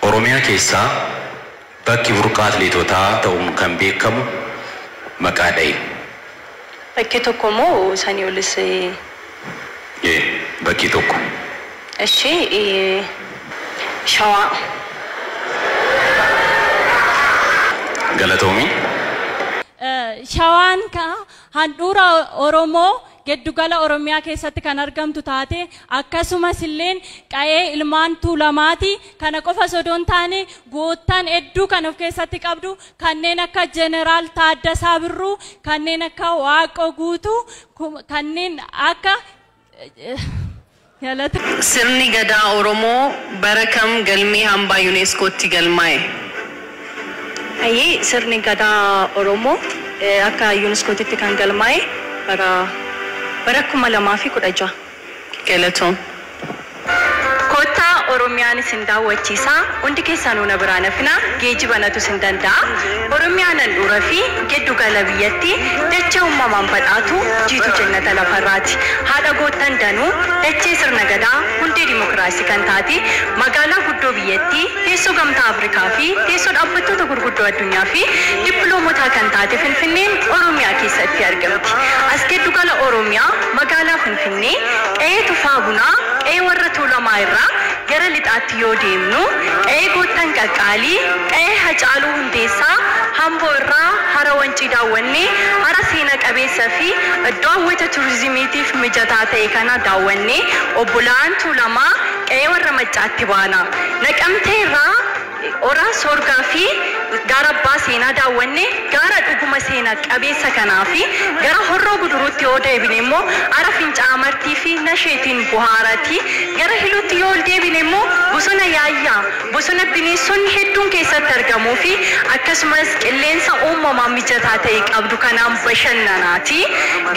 Oromiyaa keessaa bakki burqaa atileetotaa ta'uun kan beekamu maqaa dhahi. Bakkee tokko moo sanii olis? E. Bakkee tokko. Eshi i. Shawaa. Galatoomi. Shawaan kaa Handhuura Oromoo geddu gala Oromiyaa keessatti kan argamtu taatee akkasumas illeen qa'ee ilmaan Tuulamaati. Kana qofa osoo hin taane goottan hedduu kan of keessatti qabdu kanneen akka Jeneraal Taaddasaa Birruu, kanneen akka Waaqoo Guutuu, kanneen akka Sirni Gadaa Oromoo bara kam galmee hambaa UNESCOtti galmaa'e? Sirni Gadaa Oromoo akka UNESCOtitti kan galmaa'e bara bara 2016. Galatoom. Kottaa oromiyaan isin daawwachiisa hundi keessanuu na biraa nafina geejiba natu isin danda'a oromiyaan handhuura fi geddu gala biyyatti dachee ummamaan badhaatu jiitu jennata lafarraati haadha goottan danuu dachee sirna gadaa hundee dimokiraasii kan taate magaalaa guddoo biyyattii teessoo gamtaa afrikaa fi teessoo dhaabbattoota gurguddoo addunyaa fi dippiloomotaa kan taate finfinneen oromiyaa keessatti argamti as geddu gala oromiyaa magaalaa finfinnee Finfinnee, Qe'ee Tufaa Bunaa, Qe'ee warra Tuulamaa irraa gara lixaatti yoo deemnu, Qe'ee Goottan Qaqqaalii, Qe'ee Hacaaluu Hundeessaa, Hamboo irraa Hara Wancii daawwannee, hara seena qabeessa fi iddoo hawwata turizimiitiif mijataa ta'e kana daawwannee, Obbola'aan Tuulamaa, Qe'ee warra Maccaatti baana. Naqamtee irraa. Hora Soorgaa fi Gaara Abbaa Seenaa daawwanne, gaara dhuguma seena qabeessa kanaa fi gara Horroo Guduruutti yoo deebine immoo Hara Fincaa'aa Martii fi Nasheetiin buhaarati. Gara Hiluutti yoo ol deebine immoo Bosona Yaayyaa, bosona bineessonni hedduun keessatti argamuu fi akkasumas qilleensa uumamaa mijataa ta'e qabdu kanaan bashannanaati.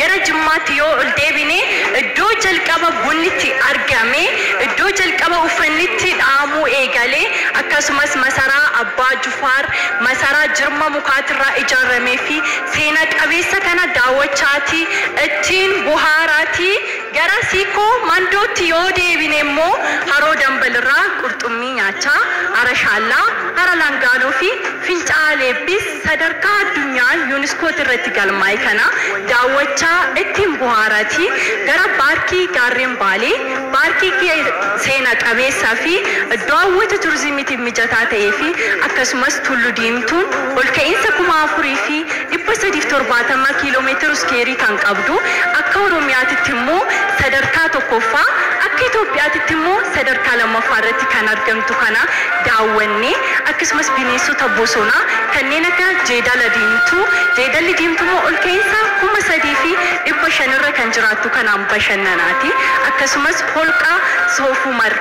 Gara Jimmaatti yoo ol deebine iddoo jalqaba bunni itti argame, iddoo jalqaba uffanni itti. tti dhaamuu eegale, akkasumas masaraa Abbaa Jufaar, masaraa jirma mukaatirraa ijaarramee fi seena qabeessa kana daawwachaatii, ittiin bohaaraatii gara Siikoo Mandootti yoo deebine immoo Haroo Dambalirraa qurxummii nyaachaa, Hara Shaallaa, Hara Langaanoo fi Finca'aa Leebbiis sadarkaa addunyaan Yuuniskootti irratti galmaa'e kana daawwachaa ittiin bohaaraatii gara Baarkii Gaarreen Baalee, Paarkii seena qabeessaa fi iddoo hawwata turizimiitiif mijataa ta'ee fi akkasumas Tullu Diimtuun olka'iinsa 4370 km iskeerii kan qabdu akka Oromiyaatitti immoo sadarkaa 1ffaa akka Itoophiyaatitti immoo sadarkaa 2ffaa irratti kan argamtu kana daawwannee akkasumas bineensota bosonaa kanneen akka Jeedala Diimtuu, Jeedalli Diimtuu immoo olka'iinsa 3500 irra kan jiraattu. jedhamtu kanaan bashannanaati. Akkasumas holqa Soof Umar.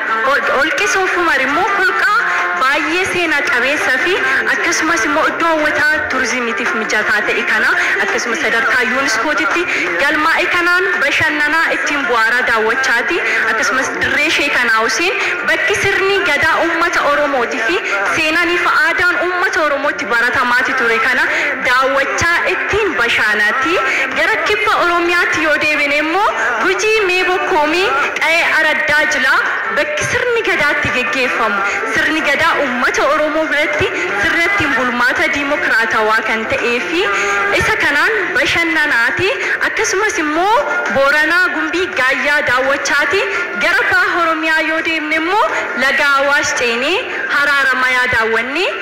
Holqi Soof Umar immoo holqa baay'ee seena qabeessa fi akkasumas immoo iddoo hawwataa turizimiitiif mijataa ta'e kana akkasumas sadarkaa Yuuniskootitti galmaa'e kanaan bashannanaa ittiin bu'aaraa daawwachaati. Akkasumas dirree Sheek Anaa Huseen bakki sirni gadaa uummata Oromooti fi seenaan ifa aadaan uummata Oromoo baratamaati ture kana daawwachaa ittiin bashaanaatti gara kibba Oromiyaatti yoo deebine immoo Gujii Mee Bokkoomii qayee Araddaa Jilaa bakki sirni gadaa itti geggeeffamu sirni gadaa uummata Oromoo biratti sirna ittiin bulmaata diimokiraatawaa kan ta'ee fi isa kanaan bashannanaati akkasumas immoo Booranaa Gumbii Gaayyaa daawwachaati gara baha Oromiyaa yoo deemne immoo laga Awaash ceenee Haraaramayaa daawwanne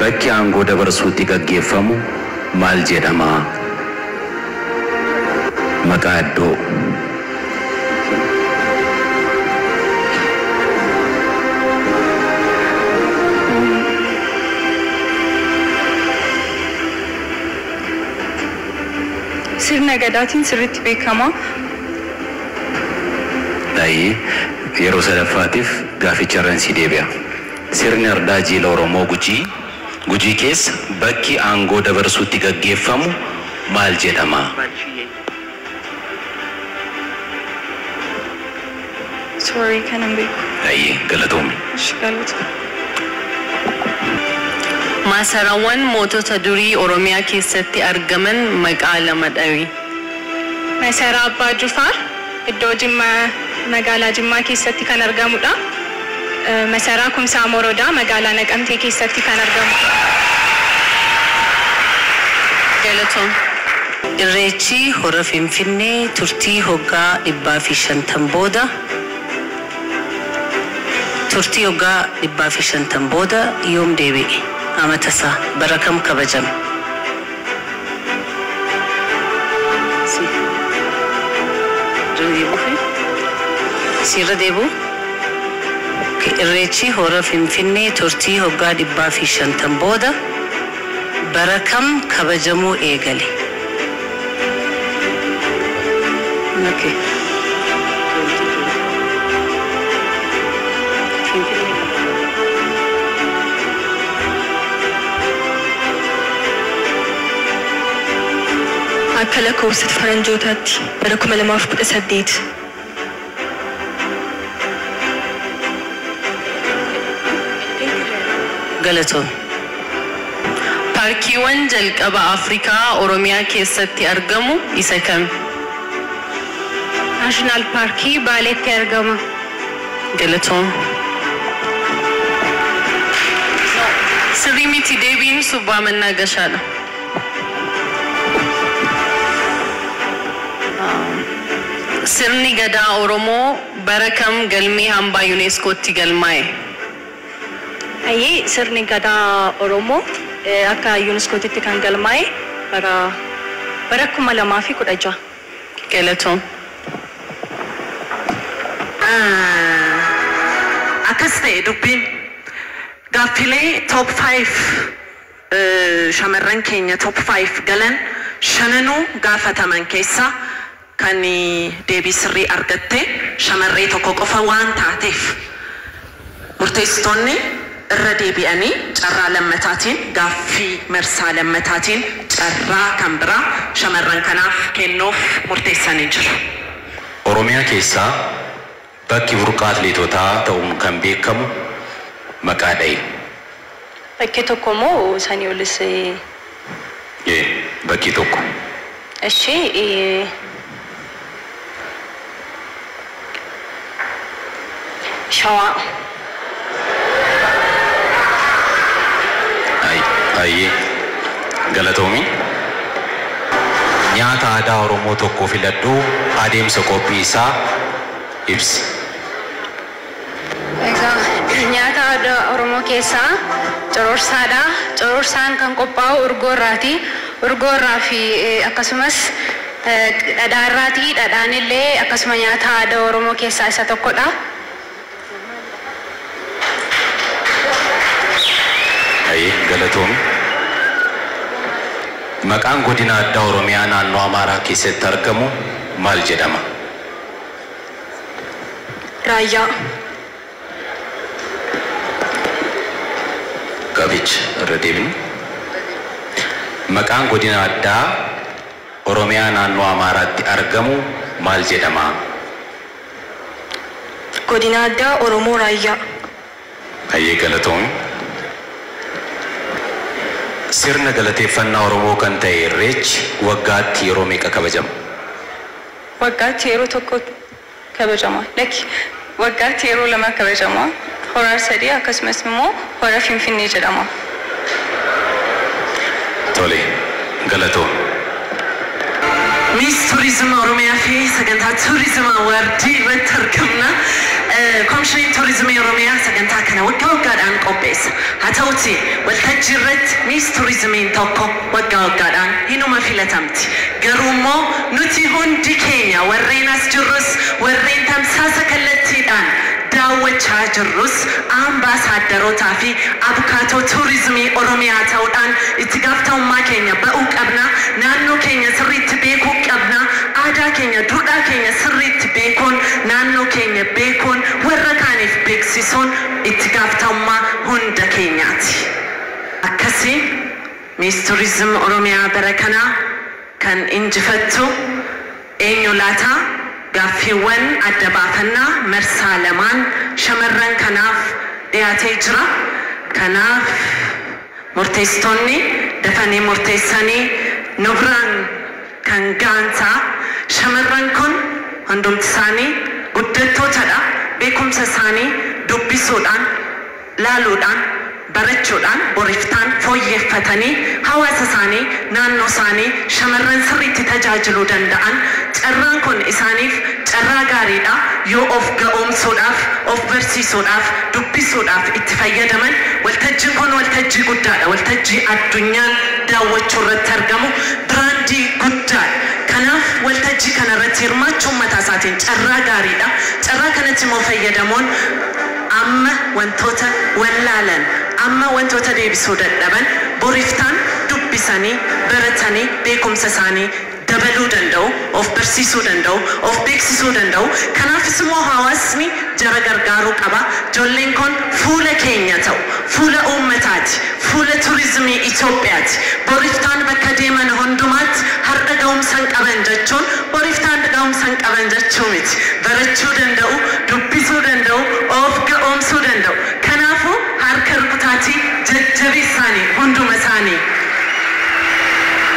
Bakki aangoo dabarsuu itti gaggeeffamu maal jedhama? Maqaa iddoo. Sirna Gadaatiin sirriitti beekama. Hayyee, yeroo sadaffaatiif gaafficharran sii deebi'a. Sirni Ardaa Jiila Oromoo Gujii, Gujii keessa bakki aangoo dabarsuu itti gaggeeffamu maal jedhama? Sorry kana hin beeku. Hayyee, galatoomi. Ishi galatoomi. Maasarawan mootota durii Oromiyaa keessatti argaman maqaa lama dhawi. Masaraa Abbaa Jufaar. Iddoo Jimma Magaalaa Jimmaa keessatti kan argamudha. Masaraa Kumsaa Morodaa Magaalaa Naqamtee keessatti kan argamudha. Galatoom. Irreechi Hora Finfinnee turtii hoggaa 150 booda Turtii hoggaa 150 booda yoom deebi'e? Amatasaa? Bara kam kabajame? Irreechi Hora Finfinnee turtii hoggaa 150 booda bara kam kabajamuu eegale? Akka lakkoofsat faranjootaatti bara 2018 Galatoomi. Paarkiiwwan jalqaba Afrikaa Oromiyaa keessatti argamu isa kami? National Park Baaleetti argama. Galatoom. No sirrii miti deebiin subbaa mannaa gashaadha. Sirni Gadaa Oromoo bara kam galmee hambaa UNESCOtti galmaa'e? Hayyee sirni Gadaa Oromoo akka UNESCOtitti kan galmaa'e bara bara 2016. Galatoom. Umm akkas ta'e dubbiin. Gaaffilee top five shamarran keenya top five galan shananuu gaafataman keessaa kan deebii sirrii argatte shamarree tokko qofa waan taateef. Murteessitoonni irra deebi'anii carraa lammataatiin gaaffii marsaa lammataatiin carraa kan biraa shamarran kanaaf kennuuf murteessanii jiru. Oromiyaa keessaa bakki burqaa atileetotaa ta'uun kan beekamu maqaa dhahi. Bakkee tokko moo sanii olis ee. Ee bakkee tokko. Eshi shawaa. Hayyee galatoomi. Nyaata aadaa Oromoo tokko filadhuu adeemsa qophii isaa ibsi. Egaa nyaata aadaa Oromoo keessaa cororsaadha. Cororsaan kan qophaa'u urgoo irraati. Urgoo irraa fi akkasumas dhadhaa irraati. Dhadhaan illee akkasuma nyaata aadaa Oromoo keessaa isa tokkodha. Haye galatoomi. Maqaan godina addaa Oromiyaa naannoo Amaaraa keessatti argamu maal jedhama? Raayyaa. Gaaficha irra deebina. Maqaan Godina Addaa Oromiyaa Naannoo Amaaraatti argamu maal jedhama? Godina Addaa Oromoo Raayyaa. Hayyee galatoomi. Sirna galateeffannaa Oromoo kan ta'e Irreechi waggaatti yeroo meeqa kabajama? Waggaatti yeroo tokko kabajama. Lakki, waggaatti yeroo lama kabajama. Hora Arsadee akkasumas immoo Hora Finfinnee jedhama. Tole, galatoomi. Miss Tourism Oromiyaa fi Sagantaa Tourism Award irratti argamna. Komishiniin Tuurizimii Oromiyaa sagantaa kana waggaa waggaadhaan qopheessa. Haa ta'uutii, waltajjii irratti Miss Tuurizimiin tokko. Waggaa waggaadhaan hinuma filatamti. Garuummoo nuti hundi keenya warreen as jirrus, warreen tamsaasa kallattiidhaan daawwachaa jirrus Ambaasaaddarootaafi Abukaatoo Tuurizimii Oromiyaa ta'uudhaan itti gaafatamummaa keenya ba'uu qabna. Naannoo keenya sirriitti beekuu qabna. Aadaa keenya, duudhaa keenya sirriitti beekuun, naannoo keenya beekuun, warra kaaniif beeksisuun itti gaafatamummaa hunda keenyaati. Akkasiin Miss Tourism Oromiyaa bara kanaa kan injifattu eenyu laata? Gaaffiiwwan adda baafannaa marsaa lamaan shamarran kanaaf dhiyaatee jira. Kanaaf murteessitoonni dafanii murteessanii nu biraan kan ga'an ta'a. Shamarran kun hundumtisaanii guddattootadha. Beekumsa isaanii dubbisuudhaan. laaluudhaan, barachuudhaan, boriftaan fooyyeffatanii hawaasa isaanii, naannoo isaanii, shamarran sirriitti tajaajiluu danda'an, carraan kun isaaniif carraa gaarii dha, yoo of ga'oomsuudhaaf, of barsiisuudhaaf, dubbisuudhaaf itti fayyadaman, waltajjiin kun waltajjii guddaa dha, waltajjii addunyaan daawwachuu irratti argamu, biraandii guddaa dha. Kanaaf waltajjii kana irratti hirmaachuun mataa isaatiin carraa gaarii dha. Carraa kanatti immoo fayyadamuun. Amma wantoota wallaalan, amma wantoota deebisuu dadhaban boriftaan dubbisanii, baratanii beekumsa isaanii dabaluu danda'u, of barsiisuu danda'u, of beeksisuu danda'u. Kanaafis immoo hawaasni jara gargaaruu qaba. Jolleen kun fuula keenya ta'u, fuula uummataati. Fuula Turizimii Itoophiyaati. Bor iftaan bakka deeman hundumaatti hardha gahumsan qaban jechuun bor iftaan gahumsan qaban jechuu miti. Barachuu danda'u, dubbisuu danda'u, of ga'oomsuu danda'u. Kanaafuu harka rukutaatii jajjabeessaanii hunduma isaanii.